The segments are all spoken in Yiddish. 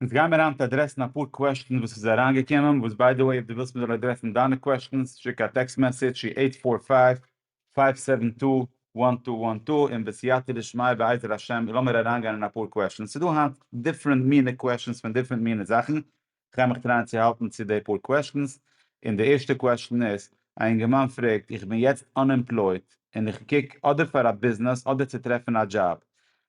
אונז גייען מיר היינט אדרעסן אפאר קוועשטענס וואס איז אריין געקומען, וואס ביי די וועי אויב די ווילסט מיר זאל אדרעסן דיינע קוועשטענס שיק א טעקסט מעסעדזש צו עיט פאר פייוו פייוו סעווען טו וואן טו וואן טו און בסייעתא דשמיא בעזר השם לאמיר אריין גיין אין אפאר קוועשטענס ס'איז דא היינט דיפרענט מינע קוועשטענס פון דיפרענט מינע זאכן כ'גיי מיך טרייען צו האלטן צו די פאר קוועשטענס און די ערשטע קוועשטען איז א אינגערמאן פרעגט איך בין יעצט אנעמפלויט און איך קוק אדער פאר א ביזנעס אדער צו טרעפן א דזשאב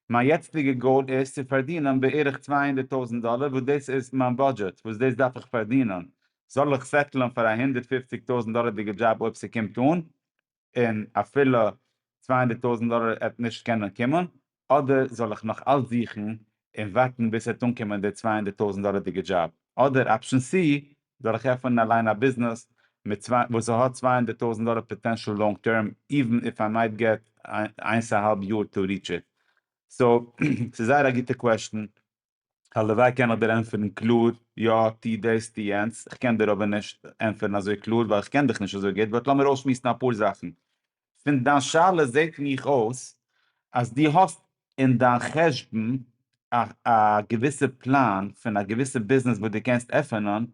מיין יעצטיגע גאול איז צו פארדינען בערך צוויי הונדערט טויזענט דאלער וואס דאס איז מיין באדזשעט וואס דאס דארף איך פארדינען, זאל איך סעטלען פאר א הונדערט פֿופֿציק טויזענט דאלערדיגע דזשאב אויב ס'קומט אן, און אפילו צוויי הונדערט טויזענט דאלער עט נישט קענען קומען, אדער זאל איך נאך אלץ זוכן און ווארטן ביז ס'עט אנקומען די צוויי הונדערט טויזענט דאלערדיגע דזשאב, אדער אפשען סי, זאל איך עפענען אליין א ביזנעס מיט צוויי וואס ס'האט צוויי הונדערט טויזענט דאלער פאטענשעל לאנג טערם איווען איף איי מייט געט איינס א האלב יאר טו ריטש איט? סאו ס'איז זייער א גוטע קוועשטען, הלוואי קען איך דיר ענטפערן קלאר יא טו דאס טו יענץ, איך קען דיר אבער נישט ענטפערן אזוי קלאר ווייל איך קען דיך נישט אזוי גוט באט לאמיר אויסשמועסן אפאר זאכן. פון דיין שאלה זעט מיך אויס אז דו האסט אין דיין חשבון א א געוויסע פלאן פון א געוויסע ביזנעס וואס דו קענסט עפענען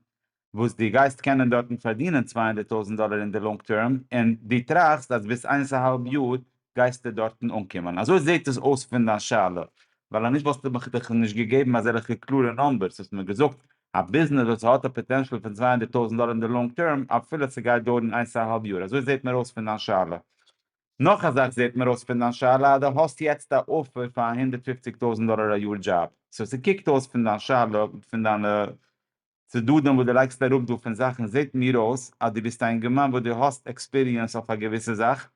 וואס דו גייסט קענען דארטן פארדינען צוויי הונדערט טויזנט דאלער אין די לאנג טערם און דו טראכסט אז ביז איינס א האלב יאר גייסטו דארטן אנקומען. אזוי זעט עס אויס פון דיין שאלה ווייל אנישט וואלסטו מיך דאך נישט געגעבן אזעלכע קלארע נומבערס, האסט מיר געזאגט א ביזנעס וואס האט א פאטענשעל פון צוויי הונדערט טויזענט דאלער אין די לאנג טערם אפילו ס'גייט דויערן איינס א האלב יאר אזוי זעהט מיר אויס פון דיין שאלה. נאך א זאך זעהט מיר אויס פון דיין שאלה אז די האסט יעצט א אפער פאר א הונדערט פופציג טויזענט דאלער א יאר דזשאב סאו ס'קוקט אויס פון דיין שאלה פון דיינע צדדים וואס די לייגסט אראפ דא פון זאכן זעהט מיר אויס אז די ביסט א אינגערמאן וואס די האסט עקספיריענס אויף א געוויסע זאך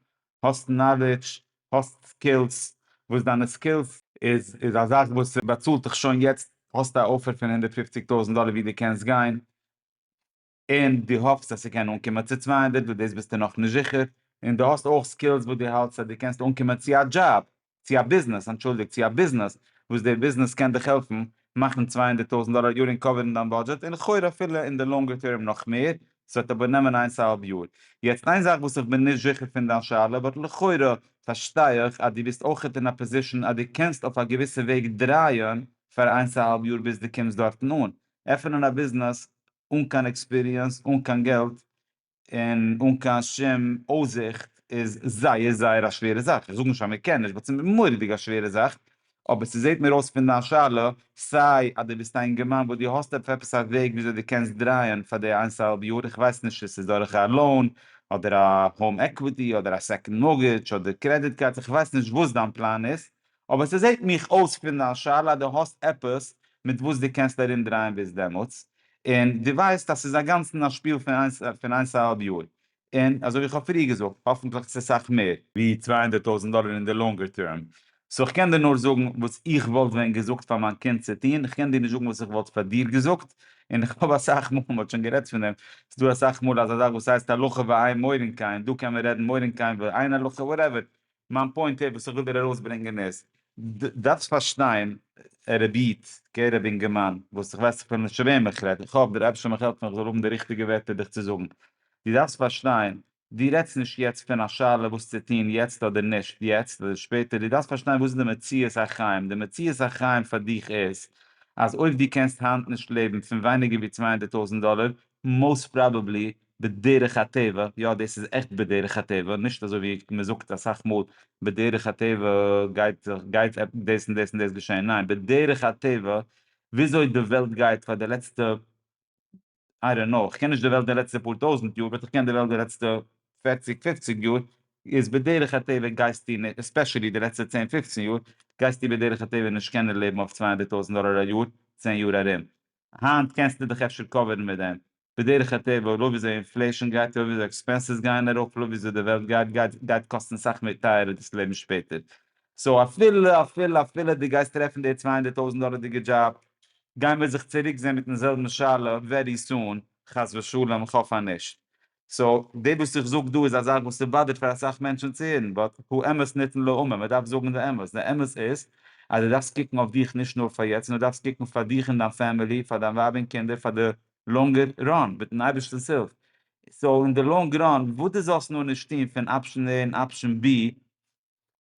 האסט נאלידזש, האסט סקילס, וואס דיינע סקילס איז איז א זאך וואס באצאלט דיך שוין יעצט, האסט א אפער פון הונדערט פופציג טויזנט דאלער ווי דו קענסט גיין, און דו האפסט אז ס'קען אנקומען צו צוויי הונדערט וואס דאס ביסטו נאכנישט זיכער, און דו האסט אויך סקילס וואס דו האלטסט אז דו קענסט אנקומען צו א דזשאב, צו א ביזנעס, אנטשולדיגט, צו א ביזנעס, וואס דער ביזנעס קען דיך העלפן מאכן צוויי הונדערט טויזנט דאלער א יאר און קאווערן דיין בודזשעט, און לכאורה אפילו אין די לאנגער טערם נאך מער, ס'וועט אבער נעמען איינס א האלב יאר. יעצט איין זאך וואס איך בין נישט זיכער פון דיין שאלה, באט לכאורה פארשטיי איך אז דו ביסט אויכעט אין א פאזישאן אז דו קענסט אויף א געוויסע וועג דרייען פאר איינס א האלב יאר ביז דו קומסט דארטן אן. עפענען א ביזנעס אן קיין עקספיריענס, אן קיין געלט, און אן קיין שום אויסזיכט איז זייער זייער א שווערע זאך, איך זאג נישט אז מען קען נישט באט ס'איז מורא'דיג א שווערע זאך, אבער ס'זעט מיר אויס פון דיין שאלה סיי אז דו ביסט א אינגערמאן וואס דו האסט עפ עפעס א וועג וויאזוי דו קענסט דרייען פאר די איינס אהאלב יאר, איך ווייס נישט צו ס'איז דורך א לאון אדער א האום עקוויטי אדער א סעקאנד מארגעדזש אדער קרעדיט קארדס, איך ווייס נישט וואס דיין פלאן איז, אבער ס'זעהט מיך אויס פון דיין שאלה אז דו האסט עפעס מיט וואס דו קענסט ארום דרייען ביז דעמאלטס, און דו ווייסט אז ס'איז אגאנצן א שפיל פון איינס פון איינס א האלב יאר, און אזוי ווי איך האב פריער געזאגט, האפנטליך צו סאך מער. ווי צוויי הונדערט טויזנט דאלער אין די לאנגער טערם. סאו איך קען דיר נאר זאגן וואס איך וואלט ווען געזאגט פאר מיין קינד צו טון, איך קען דיר נישט זאגן וואס איך וואלט פאר דיר געזאגט, און איך האב אסאך מאל, מ'האט שוין גערעדט פון דעם, ס'איז דא אסאך מאל אזא זאך וואס הייסט הלכה ועיין מוירינקיין, דא קען מען רעדן מוירינקיין ועיין הלכה וואטעווער, מיין פוינט איז וואס איך וויל דיר ארויסברענגען איז, דו דארפסט פארשטיין ערעביט קעיר רבי אינגערמאן וואס איך ווייס אפילו נישט צו וועם איך רעד, איך האף דער אייבערשטער מיך העלפן איך זאל האבן די ריכטיגע ווערטער דיך צו זאגן, דו דארפסט פארשטיין, דו רעדסט נישט יעצט פון א שאלה וואס צו טון יעצט אדער נישט יעצט אדער שפעטער, דו דארפסט פארשטיין וואס איז די מציאות החיים, די מציאות החיים פאר דיך איז אז אויב דו קענסט היינט נישט לעבן פון ווייניגער ווי צוויי הונדערט טויזענט דאלער, מאוסט פראבעבלי בדרך הטבע, יא דאס איז עכט בדרך הטבע, נישט אזוי ווי מען זאגט אסאך מאל בדרך הטבע גייט גייט דאס און דאס און דאס געשען, ניין בדרך הטבע וויאזוי די וועלט גייט פאר די לעצטע איי דאנט נאו, כ'קען נישט די וועלט די לעצטע פאר טויזנט יאר, באט כ'קען די וועלט די לעצטע פערציג פופציג יאר, איז בדרך הטבע גייסטו נישט, עספעשעלי די לעצטע צען פופצן יאר, גייסטו בדרך הטבע נישט קענען לעבן אויף צוויי הונדערט טויזנט דאלער א יאר צען יאר ארום, היינט קענסטו דיך אפשר קאווערן מיט דעם. בדרך הטבע לויט וויאזוי אינפלעישאן גייט, לויט וויאזוי עקספענסעס גייען ארויף, לויט וויאזוי די וועלט גייט, גייט, גייט קאסטן סאך מער טייערער דאס לעבן שפעטער. סאו אפילו, אפילו, אפילו דו גייסט טרעפן די צוויי הונדערט טויזנט דאלערדיגע דזשאב, גיימיר זיך צוריק זעהן מיטן זעלבן שאלה ווערי סון, חס ושלום, איך האף אז נישט. סאו די וואס איך זאג דא איז א זאך וואס ס'באדערט פאר אסאך מענטשן צו הערן באט האמת ניתן לאומר מען דארף זאגן די אמת, די אמת איז אז די דארפסט קוקן אויף דיך נישט נאר פאר יעצט נאר דארפסט קוקן פאר דיך און דיין פעמילי פאר דיין ווייב און קינדער פאר די לאנגער ראן מיטן אייבערשטנס הילף סאו אין די לאנג ראן וואס די זאלסט נאר נישט טון פון אפשן עי און אפשן בי.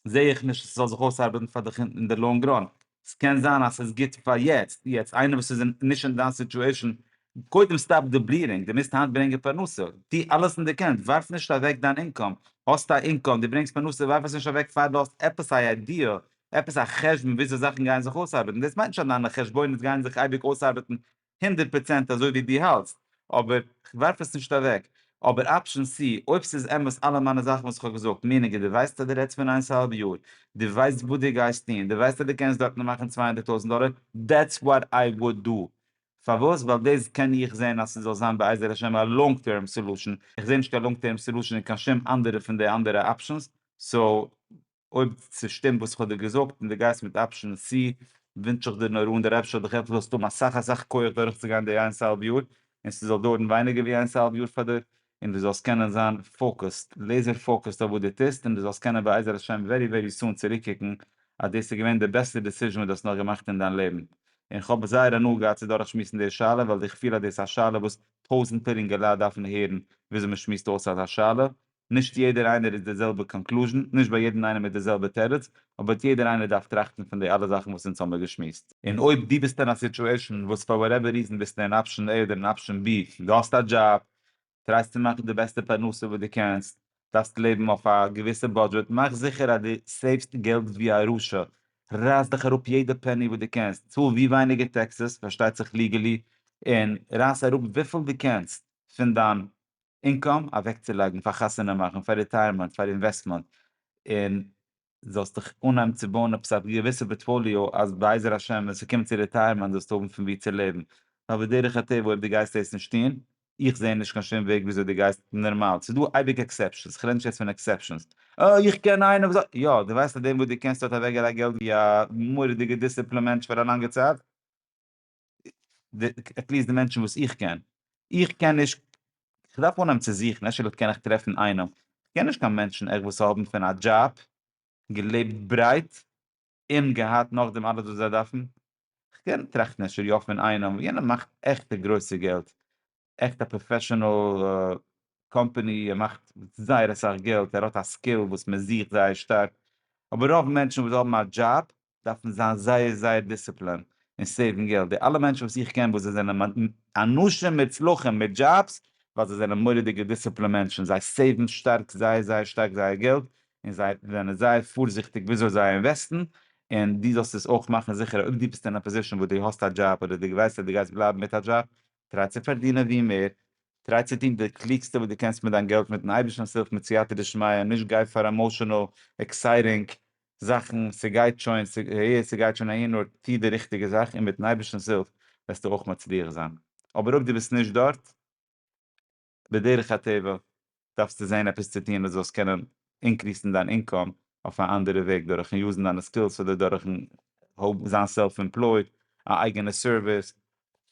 זעה איך נישט אז ס'זאל זיך אויסארבעטן פאר דיך אין די לאנג ראן, ס'קען זיין אז ס'איז גוט פאר יעצט, יעצט איינער וואס איז נישט אין דיין סיטועשן, קודם סטאפ די בליעדינג, די מוזט היינט ברענגען פרנסה, טו אלעס אין די קענסט, ווארף נישט אוועק דיין אינקאם, האסט א אינקאם, די ברענגסט פרנסה ווארף עס נישט אוועק פאר די האסט עפעס א איידיע, עפעס א חשבון וויאזוי זאכן גייען זיך אויסארבעטן, דאס מיינט נישט אז דיינע חשבונות גייען זיך אייביג אויסארבעטן הונדערט פראצענט אזוי ווי דו האלטסט, אבער כ'ווארף עס נישט אוועק. אבער אפשען סי, אויב ס'איז אמת אלע מיינע זאכן וואס כ'האב געזאגט, מינעגער, דו ווייסט אז דו רעדסט פון איינס האלב יאר, דו ווייסט וואס דו גייסט טון, דו ווייסט אז דו קענסט דארטן מאכן צוויי הונדערט טויזנט דאלער, דעטס וואט איי וואד דו. פארוואס? ווייל דאס קען איך זען אז ס'זאל זיין בעזר השם א לאנג טערם סעלושען, איך זע נישט קיין לאנג טערם סעלושען אין קיין שום אנדערע פון די אנדערע אפשענס, סאו. אויב ס'שטימט וואס כ'האב דיר געזאגט און דו גייסט מיט אפשען סי ווינטש איך דיר נאר אן דער אייבערשטער האט דיך עפעס זאלסט האבן אסאך אסאך כח דורכצוגיין די איינס אהאלב יאר און ס'זאל דויערן ווייניגער ווי איינס אהאלב יאר פאר דיר און דו זאלסט קענען זיין פאוקעסד לעיזער פאוקעסד אויף וואס דו טוסט און דו זאלסט קענען בעזר השם ווערי ווערי סאאן צוריקקוקן אז דאס איז געווען די בעסטע דעסיזשען וואס דו האסט נאר געמאכט אין דיין לעבן און כ'האב זייער הנאה געהאט צו דורכשמועסן די שאלה ווייל איך פיל אז דאס איז א שאלה וואס טויזענטער אינגעלייט דארפן הערן וויאזוי מ'שמועסט אויס אזא שאלה נישט יעדער איינער איז די זעלבע קאנקלוזשען, נישט ביי יעדן איינעם איז די זעלבע תירוץ, אבער יעדער איינער דארף טראכטן פון די אלע זאכן וואס אונז האמיר געשמועסט. און אויב דו ביסט אין א סיטועשאן וואס פאר וואטעווער ריזען ביסטו אין אפשען עי אדער אין אפשען בי, דו האסט א דזשאב, טרייסט צו מאכן די בעסטע פרנסה וואס דו קענסט, דארפסט לעבן אויף א געוויסע בודזשעט, מאך זיכער אז דו סעיוו'סט געלט ווי א רשע, רייס דיך אראפ יעדע פעני וואס דו קענסט, צאל ווי ווייניגער טעקסעס, פארשטייט זיך ליגעלי, און רייס אראפ וויפיל דו קענסט פון דיין אינקאם אוועקצולייגן פאר חתונה מאכן פאר ריטייערמענט פאר אינוועסטמענט און זאלסט דיך אנהייבן צו בויען עפעס א געוויסע פארטפאליאו אז בעזר השם ווען ס'קומט צו ריטייערמענט זאלסטו האבן פון ווי צו לעבן ווייל בדרך הטבע אויב דו גייסט דאס נישט טון איך זע נישט קיין שום וועג וויאזוי דו גייסט נארמאל ס'איז דא אייביג עקסעפשענס כ'רעד נישט יעצט פון עקסעפשענס אה איך קען איינער וואס האט יא דו ווייסט אז דעם וואס דו קענסט האט אוועקגעלייגט געלט ווי א מורא'דיגע דיסציפלינער מענטש פאר א לאנגע צייט. עטליעסט די מענטשן וואס איך קען, איך קען נישט, כ'דארף אנהייבן צו זוכן, אפשר קען איך טרעפן איינעם, כ'קען נישט קיין מענטשן עכ פ וואס האבן פון א דזשאב געלעבט ברייט און געהאט נאכדעם אלעס וואס זיי דארפן, כ'קען טראכטן אפשר יא פון איינעם, יענער מאכט עכטע גרויסע געלט, עכט א פראפעשענעל קאמפעני, ער מאכט זייער אסאך געלט, ער האט א סקיל וואס מען זוכט זייער שטארק, אבער רוב מענטשן וואס האבן א דזשאב דארף מען זיין זייער זייער דיסציפלינד און סעיוון געלט, די אלע מענטשן וואס איך קען וואס זיי זענען אנשים מוצלחים מיט דזשאבס ווייל זיי זענען מורא'דיגע דיסציפלינד מענטשן, זיי סעיוון שטארק זייער זייער שטארק זייער געלט און זיי זענען זייער פארזיכטיג וויאזוי זיי אינוועסטן, און דו זאלסט עס אויך מאכן זיכער אויב דו ביסט אין א פאזישאן וואס דו האסט א דזשאב אדער דו ווייסט אז דו גייסט בלייבן מיט א דזשאב, טריי צו פארדינען ווי מער, טריי צו טון די קלוגסטע וואס דו קענסט מיט דיין געלט מיטן אייבערשטנ'ס הילף מיט סייעתא דשמיא, נישט גיי פאר עמאושענעל, עקסייטינג, זאכן, ס'גייט שוין, ס'הער, ס'גייט שוין אהין, נאר טו די ריכטיגע זאך און מיטן אייבערשטנ'ס הילף וועסטו אויך מצליח זיין. אבער אויב דו ביסט נישט דארט, בדרך הטבע דארפסטו זען עפעס צו טון אז דו זאלסט קענען אינקריסן דיין אינקאם אויף א אנדערע וועג, דורכ'ן יוזן דיינע סקילס אדער דורכ'ן זיין סעלף עמפלויד, א אייגענע סערוויס,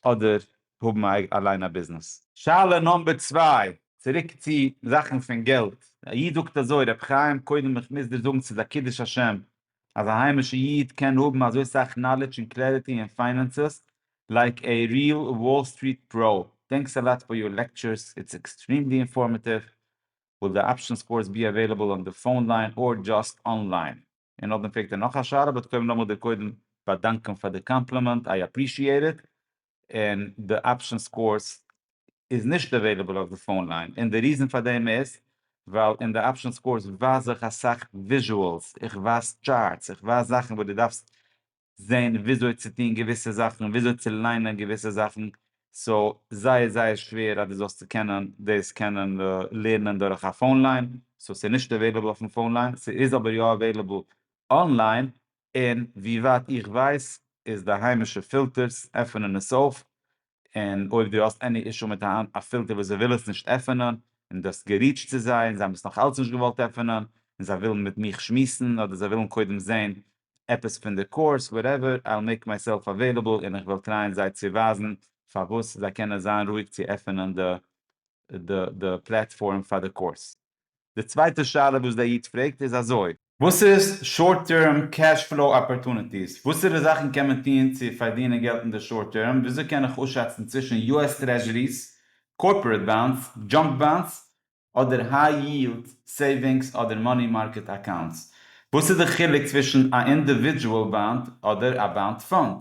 אדער האבן אליין א ביזנעס. שאלה נאמבער צוויי, צוריק צו זאכן פון געלט, א איד זאגט אזוי, רבי חיים קודם איך מוז דיר זאגן ס'איז א קידוש השם אז א היימישע איד קען האבן אזוי סאך נאלידזש און קלעריטי אין פיינענסעס לייק עי ריעל וואל סטריט פראו, טענקס א לאט פאר יור לעקטשורס איטס עקסטרימלי אינפארמעטיוו, וויל די אפשענס קאורס בי עוועילעבל אן די פאון ליין אר דזשאסט אנליין? און נאכדעם פרעגט ער נאך א שאלה, באט כ'וועל נאכאמאל דיר קודם באדאנקען פאר די קאמפלימענט, איי אפרישיעט איט, און די אפשען סקאורס איז נישט עוועילעבל אויף די פאון ליין, און די ריזען פאר דעם איז ווייל אין די אפשען סקאורס ווייז איך אסאך וויזשועלס, איך ווייז טשארטס, איך ווייז זאכן וואס דו דארפסט זען וויאזוי צו טון געוויסע זאכן, וויאזוי צו ליינען געוויסע זאכן, סאו זייער זייער שווער אז דו זאלסט צו קענען דאס קענען לערנען דורך א פאון ליין, סאו ס'איז נישט עוועילעבל אויפן פאון ליין, ס'איז אבער יא עוועילעבל אנליין, און ווי ווייט איך ווייס איז די היימישע פילטערס עפענען עס אויף, און אויב דו האסט עני אישו מיט א פילטער וואס זיי ווילען עס נישט עפענען און דו האסט געריעטשט צו זיי און זיי האבן עס נאך אלץ נישט געוואלט עפענען און זיי ווילן מיט מיך שמועסן אדער זיי ווילן קודם זעהן עפעס פון די קורס וואטעווער אייל מעיק מייסעלף אוועילעבל און איך וועל טרייען זיי צו ווייזן פארוואס זיי קענען זיין רואיג צו עפענען די פלעטפארם פאר די קורס. די צווייטע שאלה וואס דער איד פרעגט איז אזוי. וואס איז שארט טערם קעש פלאו אפארטוניטיס? וואסערע זאכן קען מען טוהן צו פארדינען געלט אין די שארט טערם? וויאזוי קען איך אויסשאצן צווישן יו עס טרעזשעריס, קארפארעט באנדס, דזשאנק באנדס, אדער היי יילד סעיווינגס אדער מאני מארקעט אקאונטס? וואס איז די חילוק צווישן א אינדיווידזשועל באנד אדער א באנד פאנד?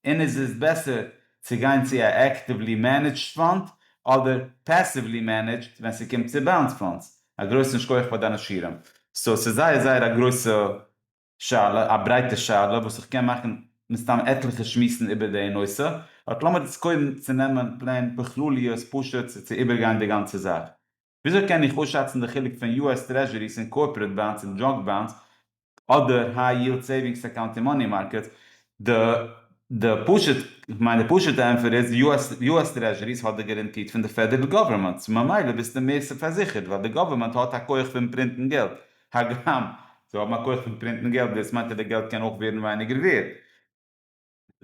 און איז עס בעסער צו גיין צו א עקטיוולי מענעדזשד פאנד אדער פעסיוולי מענעדזשד ווען ס'קומט צו באונס פאנדס? א גרויסן שכח פאר דיינע שיעורים. סאו ס'איז זייער זייער א גרויסע שאלה, א ברייטע שאלה וואס איך קען מאכן מסתם עטליכע שמועסן איבער די נושא, באט לאמיר איצט קודם צו נעמען פלעין בכלליות פשוט צו איבערגיין די גאנצע זאך. וויאזוי קען איך אויסשאצן די חילוק פון יו עס טרעזשעריס און קארפארעט באנדס און דזשאנק באנדס אדער היי יילד סעיווינגס אקאונט און מאני מארקעטס? די פשוטע ענפער איז, יו עס טרעזשעריס האט די גאראנטיד פון די פעדערל גאווערמענט, סאו ממילא ביסטו מער פארזיכערט ווייל די גאווערמענט האט א כח פון פרינטן געלט, הגם זיי האבן א כח פון פרינטן געלט דאס מיינט אז די געלט קען אויך ווערן ווייניגער ווערד.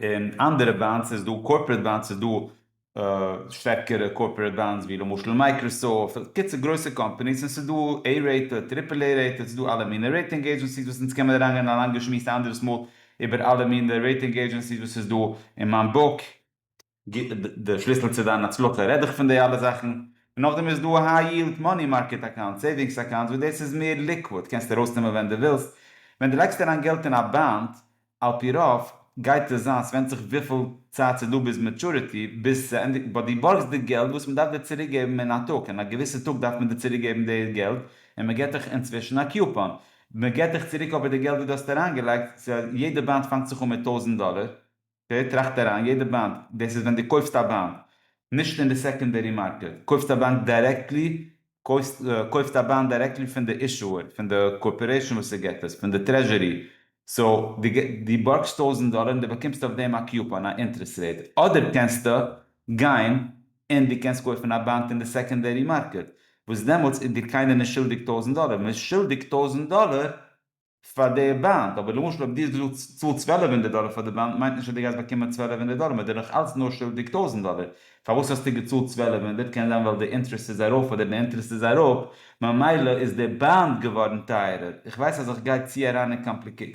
און אנדערע באנדס איז דא קארפארעט באנדס איז דא שטערקערע קארפארעט באנדס ווי למשל מייקראסאפט קיצור גרויסע קאמפאניס און ס'איז דא עי רעיטעד טריפל עי רעיטעד ס'איז דא אלע מינע רעיטינג עידזשענסיס וואס אונז קען מען אריין גיין א לאנגע שמועס א אנדערעס מאל איבער אלע מינע רעיטינג עידזשענסיס וואס איז דא אין מיין בוק. די שליסל צו דיין הצלחה רעד איך פון די אלע זאכן, און נאכדעם איז דא היי יילד מאני מארקעט אקאונטס, סעיווינגס אקאונטס וואס דאס איז מער ליקוואד, קענסט ארויסנעמען ווען דו ווילסט, ווען דו לייגסט אריין געלט אין א באנד על פי רוב גייט עס זיין, סווענדט זיך וויפיל צייט סאיז דא ביז מעטשורעטי, ביז ס'ענדיגט, באט דו בארגסט די געלט וואס מ'דארף דיר צוריק געבן אין א טאג, אין א געוויסע טאג דארף מען דיר צוריק געבן די געלט, און מ'געט דיך אינצווישן א קיופאן, מ'געט דיך צוריק אבער די געלט וואס דו האסט אריינגעלייגט, סא יעדע באנד פאנגט זיך אן מיט טויזענט דאלער, ווער טראכט אריין? יעדע באנד, דאס איז ווען דו קויפסט א באנד, נישט אין די סעקאנדערי מארקעט, קויפסט א באנד דירעקטלי, קויפסט קויפסט א באנד דירעקטלי פון די אישוער, פון די קארפארעישאן וואס עס גיבט עס, פון די טרעזשורי, סאו דו דו בארגסט טויזנט דאלער און דו באקומסט אויף דעם א קופאן, א אינטרעסט רעיט, אדער קענסטו גיין און דו קענסט קויפן א באנד אין די סעקאנדערי מארקעט, וואס דעמאלטס איז דיר קיינער נישט שולדיג טויזנט דאלער, מען איז שולדיג טויזנט דאלער פאר די באנד, אבער למשל אויב דו האסט געזאגט צאל צוועלף הונדערט דאלער פאר די באנד מיינט נישט אז דו גייסט באקומען צוועלף הונדערט דאלער מען איז דיר נאך אלץ נאר שולדיג טויזנט דאלער, פארוואס האסטו געצאלט צוועלף הונדערט קען זיין ווייל די אינטרעסט איז ארויף אדער די אינטרעסט איז אראפ ממילא איז די באנד געווארן טייערער, איך ווייס אז איך גיי צו אריין אין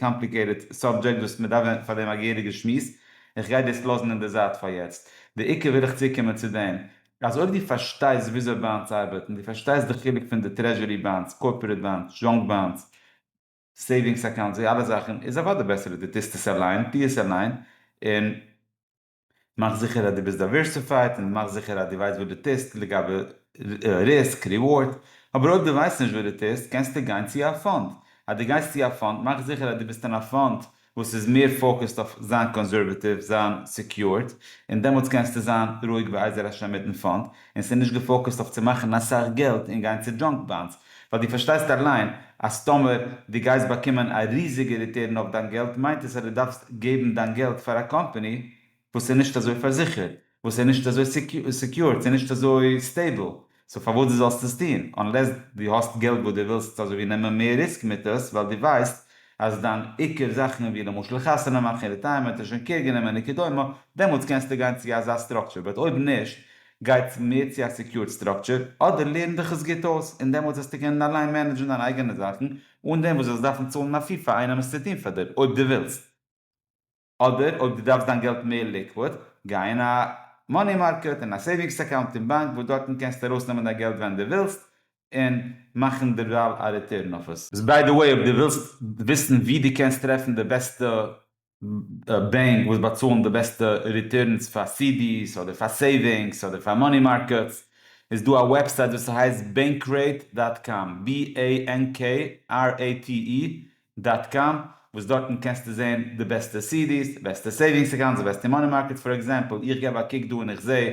קאמפליקעיטעד סאבדזשעקט וואס מען דארף פאר דעם א געהעריגע שמועס, איך גיי דאס לאזן אין די זייט פאר יעצט, די עיקר וויל איך צוקומען צו דעם, אז אויב דו פארשטייסט וויאזוי באנדס ארבעט און דו פארשטייסט די חילוק פון די טרעזשורי באנדס, קארפארעט באנדס, דזשאנק באנדס, סעיווינגס אקאונטס, די אלע זאכן, איז אוודאי בעסער אז דו טוסט עס אליין, טו עס אליין, און מאך זיכער אז דו ביסט דייווערסיפייד, און מאך זיכער אז דו ווייסט וואס דו טוסט לגבי ריסק, ריווארד, אבער אויב דו ווייסט נישט וואס דו טוסט, קענסטו גיין צו א פאנד, אז דו גייסט צו א פאנד, מאך זיכער אז דו ביסט אין א פאנד וואס איז מער פאוקעסד אויף זיין קאנסערוועטיוו, זיין סעקיורד, און דעמאלטס קענסטו זיין רואיג בעזר השם מיטן פאנד, און ס'נישט געפאוקעסד אויף צו מאכן אסאך געלט און גיין צו דזשאנק באנדס, ווייל דו פארשטייסט אליין אז טאמער דו גייסט באקומען א ריזיגע ריטערן אויף דיין געלט מיינט עס אז דו דארפסט געבן דיין געלט פאר א קאמפאני, וואס איז נישט אזוי פארזיכערט, וואס איז נישט אזוי סעקיורד, ס'איז נישט אזוי סטעיבל, סאו פארוואס דו זאלסט עס טון, אנלעס דו האסט געלט וואס דו ווילסט אזוי ווי נעמען מער ריסק מיט עס, ווייל דו ווייסט אז דיין עיקר זאכן ווי למשל חתונה מאכן, ריטייערמענט און שוין קעיר גענומען און כדומה, דעמאלטס קענסטו גיין צו אזא סטראקטשער, באט אויב נישט, גיי מער צו א סעקיורד סטראקטשער, אדער לערן דיך עס גוט אויס, און דעמאלטס וועסטו קענען אליין מענעדזשן דיינע אייגענע זאכן, אן דעם וואס דו זאלסט דארפן צאלן א פי פאר איינעם עס צו טון פאר דיר, אויב דו ווילסט. אדער אויב דו דארפסט דיין געלט מער ליקוואד, גיי אין א מאני מארקעט, אין א סעיווינגס אקאונט אין באנק וואס דארטן קענסטו ארויסנעמען דיין געלט ווען דו ווילסט און מאכן דערווייל א ריטורן אויף עס. ביי די וועי אויב דו ווילסט וויסן ווי דו קענסט טרעפן די בעסטע בענק וואס באצאלן די בעסטע ריטורנס פאר סידיס אדער פאר סעיווינגס אדער פאר מאני מארקעטס איז דא א וועבסייט וואס ס'הייסט Bankrate דאט קאם, בי עי ען קעי אר עי טי אי, דאט קאם, וואס דארטן קענסטו זעהן די בעסטע סידיס, די בעסטע סעווינגס אקאונטס, די בעסטע מאני מארקעטס, פאר עקזעמפל איך געב א קוק דא און איך זעה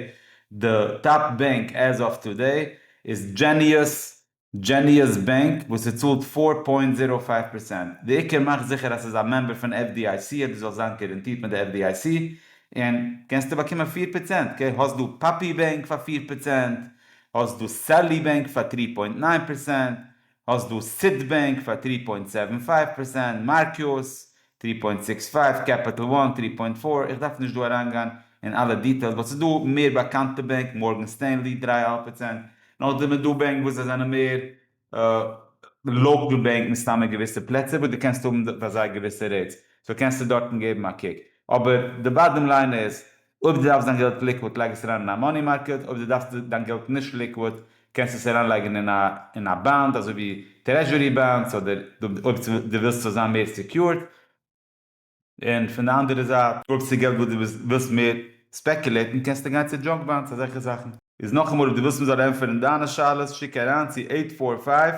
די טאפ בענק עז אוו טודעי איז דזשעניוס, Genius Bank, וואס עס צאלט פֿיר פוינט זירא פֿינף פראצענט, די עיקר מאך זיכער אז ס'איז א מעמבער פון FDIC אז דו זאלסט זיין גאראנטירט מיט די FDIC און קענסטו באקומען פֿיר פראצענט, אקעי האסט דא פאפי בענק פאר פֿיר פראצענט, האסט דא סעלי בענק פאר טרי פוינט נײַן פראצענט, האסט דא סיטיבענק פאר טרי פוינט סעווען פייוו פערסענט, מארקיוס טרי פוינט סיקס פייוו, קעפיטעל וואן טרי פוינט פאר, איך דארף נישט דא אריינגיין אין אלע דיטעילס באט ס'איז דא מער באקאנטע בענק מארגען סטענלי דרײַ אהאלב פערסענט, נאכדעם איז דא בענק וואס זיי זענען מער לאקעל בענק מסתם אין געוויסע פלעצער וואס דו קענסט האבן פאר זיי געוויסע רעיטס, סאו קענסטו דארטן געבן א קוק, אבער די באדעם ליין איז אויב דו דארפסט דיין געלט ליקוויד לייג עס אריין אין א מאני מארקעט, אויב דו דארפסט דיין געלט נישט ליקוויד קענסטו עס אריינלייגן אין א אין א באנד אזוי ווי טרעזשורי באנדס אדער אויב דו ווילסט ס'זאל זיין מער סעקיורד, און פון די אנדערע זייט אויב ס'איז געלט וואס דו ווילסט מער ספעקולעטן קענסטו גיין צו דזשאנק באנדס אזעלכע זאכן. איז נאכאמאל אויב דו ווילסט מ'זאל ענטפערן דיינע שאלות שיק אריין צו עיט פאר פייוו